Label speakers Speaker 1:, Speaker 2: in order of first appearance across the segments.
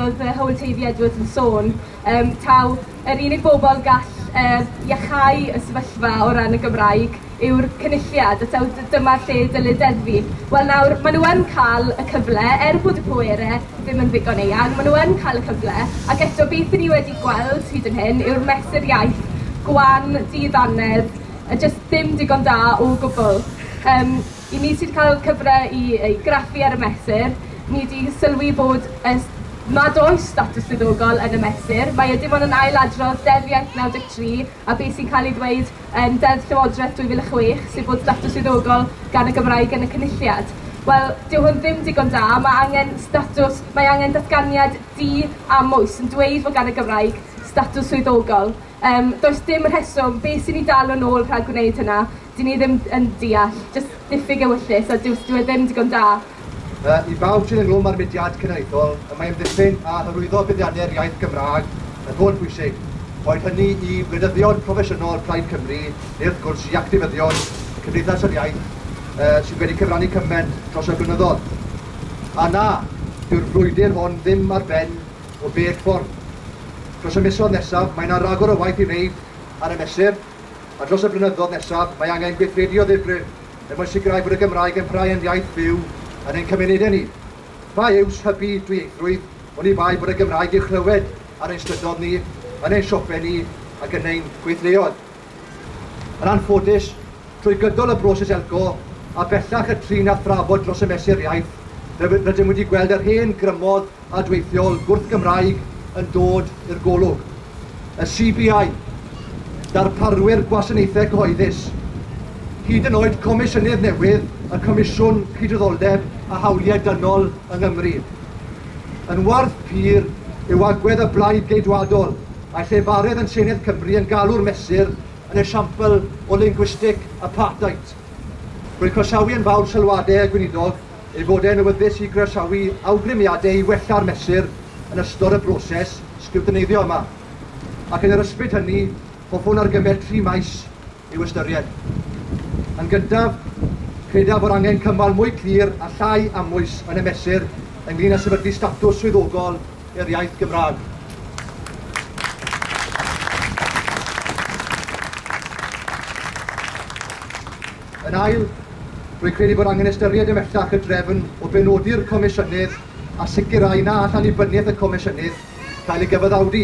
Speaker 1: oedd fy Hywel Teifi Edwards yn sôn, um, taw yr unig bobl gall uh, iachau y sefyllfa o ran y Gymraeg yw'r cynulliad, a taw dyma lle dylid deddfu. Wel nawr, maen nhw yn cael y cyfle, er bod y pwere ddim yn ddigon eang, maen nhw yn cael y cyfle, ac eto beth ni wedi gweld hyd yn hyn yw'r mesur iaith gwan, dydd anedd, a jyst ddim digon da o gwbl. Um, I ni sydd cael cyfle i ei graffu ar y mesur, ni 'di sylwi bod y s- nad oes statws swyddogol yn y mesur. Mae e dim ond yn ail-adrodd Deddf Iaith 93 a be' sy'n cael ei ddweud yn Deddf Llywodraeth 2006, sef bod statws swyddogol gan y Gymraeg yn y Cynulliad. Wel, dyw hwn ddim digon da, mae angen statws, mae angen datganiad di-amwys yn dweud fod gan y Gymraeg statws swyddogol. Yym, does dim rheswm, beth sy'n ni dal yn ôl rhag gwneud hynna? Dy'n ni ddim yn deall. Jyst diffyg ewyllys a dyw dyw e ddim digon da. Yy, i bawb
Speaker 2: sydd ynghlwm â'r mudiad cenedlaethol, y mae amddiffyn a hyrwyddo buddiannau'r iaith Gymraeg yn holl bwysig, boed hynny i wleidyddion proffesiynol Plaid Cymru neu wrth gwrs i actifyddion Cymdeithas yr Iaith yy sydd wedi cyfrannu cyment dros y blynyddoedd. A na, dyw'r frwydr hon ddim ar ben o bell ffordd. Dros y misoedd nesaf, mae yna ragor o waith i wneud ar y mesur, a dros y blynyddoedd nesaf, mae angen gweithredu o ddifrif er mwyn sicrhau bod y Gymraeg yn parhau yn iaith fyw yn ein cymunedau ni. Pa iws hybu dwyieithrwydd oni bai bod y Gymraeg i'w chlywed ar ein strydoedd ni, yn ein siopau ni ac yn ein gweithleoedd? Yn anffodus, trwy gydol y broses elco, a bellach y trin a thrafod dros y Mesur Iaith, rydym wedi gweld yr hen grymodd adweithiol gwrth-Gymraeg yn dod i'r golwg. Y CBI, darparwyr gwasanaethau cyhoeddus, hyd yn oed Comisiynydd newydd y Comisiwn Cydraddoldeb a Hawliau Dynol yng Nghymru. Yn warth pur yw agwedd y Blaid Geidwadol Mae llefarydd yn Senedd Cymru yn galw'r mesur yn esiampl o lingwistig apartheid. Rwy'n croesawu yn fawr sylwadau y Gweinidog ei fod e'n awyddus i groesawu awgrymiadau i wella'r mesur yn ystod y broses sgriwtineiddio yma, ac yn yr ysbryd hynny, hoffwn argymell tri maes i'w ystyried. Yn gyntaf, credaf fod angen cymal mwy clir a llai amwys yn y mesur ynglŷn â sefydlu statws swyddogol i'r iaith Gymraeg. Yn ail, rwy'n credu bod angen ystyried ymhellach y drefn o benodi'r Comisiynydd a sicrhau na all annibyniaeth y Comisiynydd gael ei gyfaddawdu.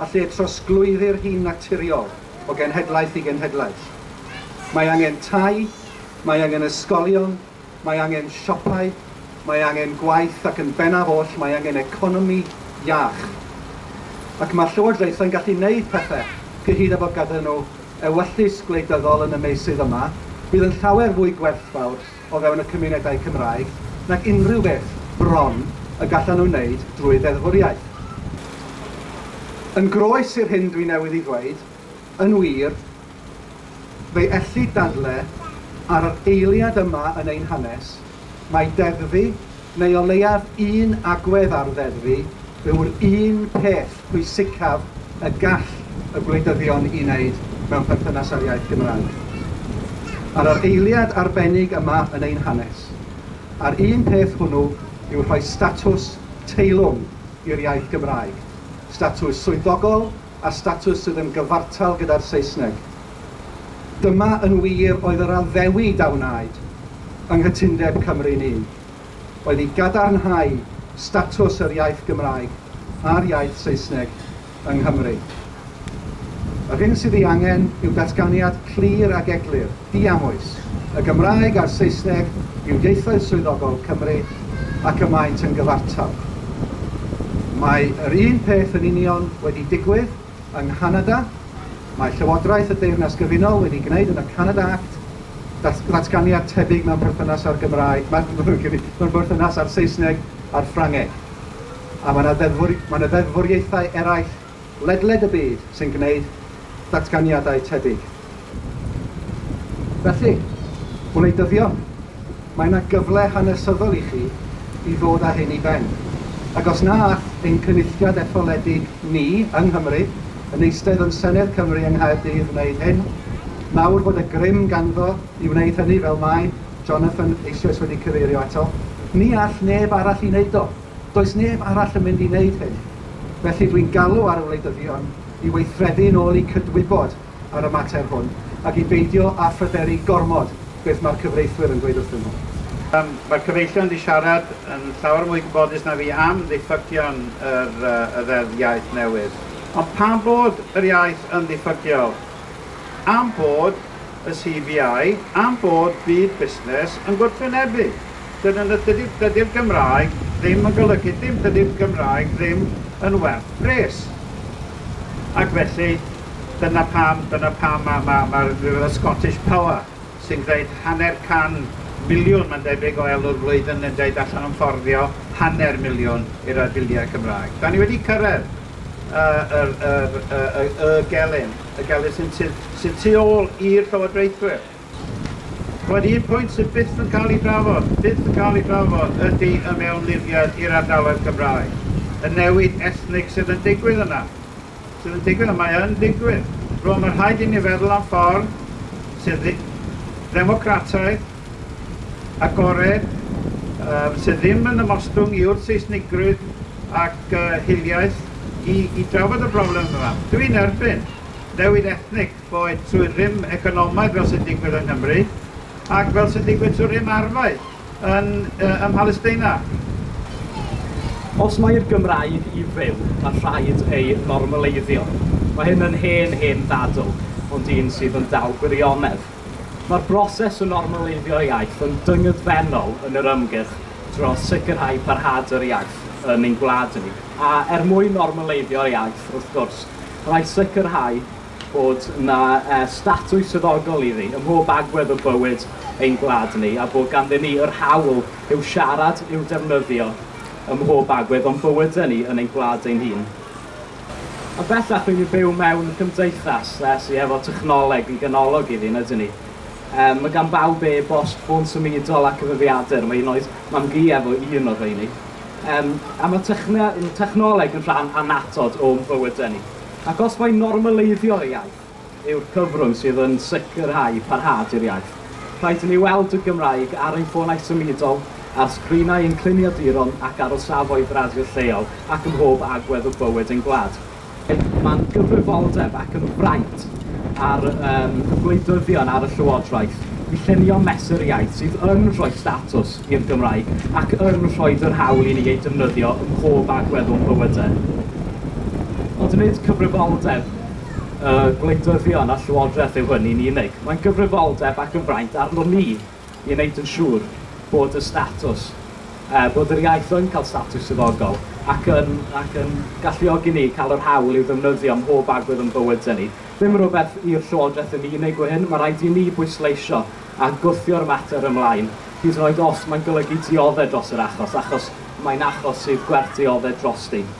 Speaker 3: a lle trosglwyddir hi'n naturiol o genhedlaeth i genhedlaeth. Mae angen tai, mae angen ysgolion, mae angen siopau, mae angen gwaith ac yn bennaf oll mae angen economi iach. Ac mae llywodraethau'n gallu gwneud pethau, cyhyd â bod ganddyn nhw ewyllys gwleidyddol yn y meysydd yma, fydd yn llawer fwy gwerthfawr o fewn y cymunedau Cymraeg nag unrhyw beth bron y gallan nhw wneud drwy ddeddfwriaeth. Yn groes i'r hyn dwi newydd ei ddweud, yn wir, fe'i ellid dadle ar yr eiliad yma yn ein hanes, mai deddfu neu o leiaf un agwedd ar ddeddfu, yw'r un peth pwysicaf y gall y gwleidyddion ei wneud mewn perthynas â'r iaith Gymraeg. Ar yr eiliad arbennig yma yn ein hanes, a'r un peth hwnnw yw rhoi statws teilwng i'r iaith Gymraeg, statws swyddogol a statws sydd yn gyfartal gyda'r Saesneg. Dyma yn wir oedd yr addewid a wnaed yng Nghytundeb Cymru'n Un, oedd i gadarnhau statws yr iaith Gymraeg a'r iaith Saesneg yng Nghymru. Yr hyn sydd ei angen yw datganiad clir ac eglur, Diamwys, y Gymraeg a'r Saesneg yw ieithoedd swyddogol Cymru ac y maent yn gyfartal. Mae yr un peth yn union wedi digwydd yng Nghanada, mae Llywodraeth y Deyrnas Gyfunol wedi gwneud yn y Canada Act ddatganiad tebyg mewn perthynas â'r Gymraeg, mewn perthynas â'r Saesneg a'r Ffrangeg, a mae yna ddeddfwriaethau eraill ledled y byd sy'n gwneud datganiadau tebyg. Felly, wleidyddion, mae yna gyfle hanesyddol i chi i ddod â hyn i ben, ac os na all ein Cynulliad etholedig ni yng Nghymru, yn eistedd yn Senedd Cymru yng Nghaerdydd wneud hyn, nawr bod y grym ganddo i wneud hynny fel mae Jonathan eisoes wedi cyfeirio ato, ni all neb arall i wneud o. Does neb arall yn mynd i wneud hynny, felly dwi'n galw ar y wleidyddion i weithredu yn ôl eu cydwybod ar y mater hwn ac i beidio â phryderu gormod beth mae'r cyfreithwyr yn dweud wrthyn nhw. Mae'r cyfreithiwr
Speaker 4: wedi siarad yn llawer mwy gwybodus na fi am ddiffygion yr y Ddeddf Iaith newydd. Ond pam bod yr iaith yn ddiffygiol? Am bod y CVI am fod byd busnes yn gwrthwynebu. Dyna na dydy'r dydy'r Gymraeg ddim yn golygu dim, dydy'r Gymraeg ddim yn werth pres. Ac felly, dyna pam, dyna pam mae ma, ma rhywbeth y Scottish Power sy'n gwneud hanner can miliwn, mae'n debyg, o elw'r flwyddyn yn dweud allan o'n fforddio hanner miliwn i'r ar biliau Cymraeg. Da ni wedi cyrraedd yr, yr, yr, y, y, y gelyn. y gellir sy'n tu, sy tu ôl i'r llywodraethwyr. Roedd un pwynt sydd byth yn cael ei drafod, byth yn cael ei drafod, ydy y mewnlifiad i'r ardaloedd Cymraeg, y newid ethnig sydd yn digwydd yna, sydd yn digwydd, a mae yn digwydd. Rwan, mae rhaid i ni feddwl am ffordd sydd ddemocrataidd, agored yy sydd ddim yn ymostwng yw'r Seisnigrwydd ac yy hiliaeth i i drafod y broblem yma. Dw i'n erbyn newid ethnig boed trwy rym economaidd fel sy'n digwydd yng Nghymru ac fel sy'n digwydd trwy rym arfau yn yy ym Mhalesteina.
Speaker 5: Os mai'r Gymraeg i fyw, mae rhaid ei normaleiddio. Mae hyn yn hen, hen ddadl, ond un sydd yn dal gwirionedd. Mae'r broses o normaleiddio iaith yn dyngedfennol yn yr ymgyrch dros sicrhau parhad yr iaith yn ein gwlad ni. A er mwyn normaleiddio'r iaith, wrth gwrs, rhaid sicrhau bod yna e, statws swyddogol iddi ym mhob agwedd o bywyd ein gwlad ni a bod ganddyn ni yr hawl i'w siarad, i'w defnyddio ym mhob agwedd o'n bywydau ni yn ein gwlad ein hun. Ond bellach rydyn ni'n byw mewn cymdeithas uh, sydd efo technoleg yn ganolog iddi, yn ydyn ni. Um, mae gan bawb e bost ffôn symudol a cyfrifiadur, mae un oed mam gi efo un o rheini. Um, a mae techne, technoleg yn rhan anatod o'n bywydau ni. Ac os mae'n normaleiddio ei iaith, yw'r cyfrwng sydd yn sicrhau parhad i'r iaith. Rhaid i ni weld y Gymraeg ar ein ffonau symudol, ar sgrinau ein cluniaduron ac ar y safoedd radio lleol ac ym mhob agwedd o bywyd ein gwlad. Mae'n gyfrifoldeb ac yn fraint ar um, y gwleidyddion, ar y Llywodraeth, i llunio mesur iaith sydd yn rhoi statws i'r Gymraeg ac yn rhoi yr hawl i ni ei defnyddio ym mhob agwedd o'n bywydau. Ond nid cyfrifoldeb y gwleidyddion a Llywodraeth yw hynny'n unig. Mae'n gyfrifoldeb ac yn fraint arnon ni i wneud yn siŵr bod y statws, er bod yr iaith yn cael statws swyddogol, ac yn, ac yn galluogi ni i cael yr hawl i'w ddefnyddio ym mhob agwedd o'n bywydau ni. Ddim yn rhywbeth i'r Llywodraeth yn unig yw hyn, mae rhaid i ni bwysleisio a gwthio'r mater ymlaen, hyd yn oed os mae'n golygu dioddef dros yr achos, achos mae'n achos sydd gwerth dioddef drosti.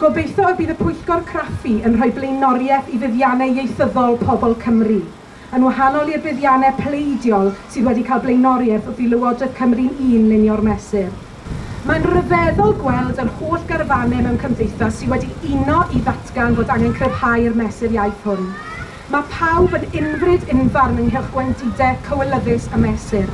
Speaker 6: Gobeithio y bydd y Pwyllgor Craffu yn rhoi blaenoriaeth i fuddiannau ieithyddol pobl Cymru, yn wahanol i'r buddiannau pleidiol sydd wedi cael blaenoriaeth wrth i Lywodraeth Cymru'n Un lunio'r mesur. Mae'n ryfeddol gweld yr holl garfanau mewn cymdeithas sydd wedi uno i ddatgan bod angen cryfhau'r mesur iaith hwn. Mae pawb yn unfryd unfarn ynghylch gwendidau cywilyddus y mesur.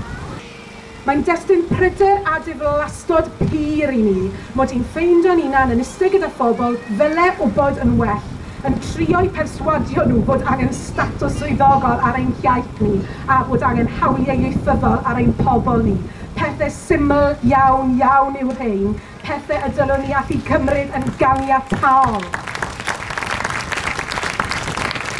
Speaker 6: Mae'n destun pryder a diflastod pur i ni mod i'n ffeindio ninan yn iste gyda phobl ddyle wbod yn well, yn trio'u perswadio nhw bod angen statws swyddogol ar ein hiaith ni a bod angen hawliau ieithyddol ar ein pobl ni. Pethe syml iawn, iawn yw rhein, pethe y dylwn ni allu cymryd yn ganiataol.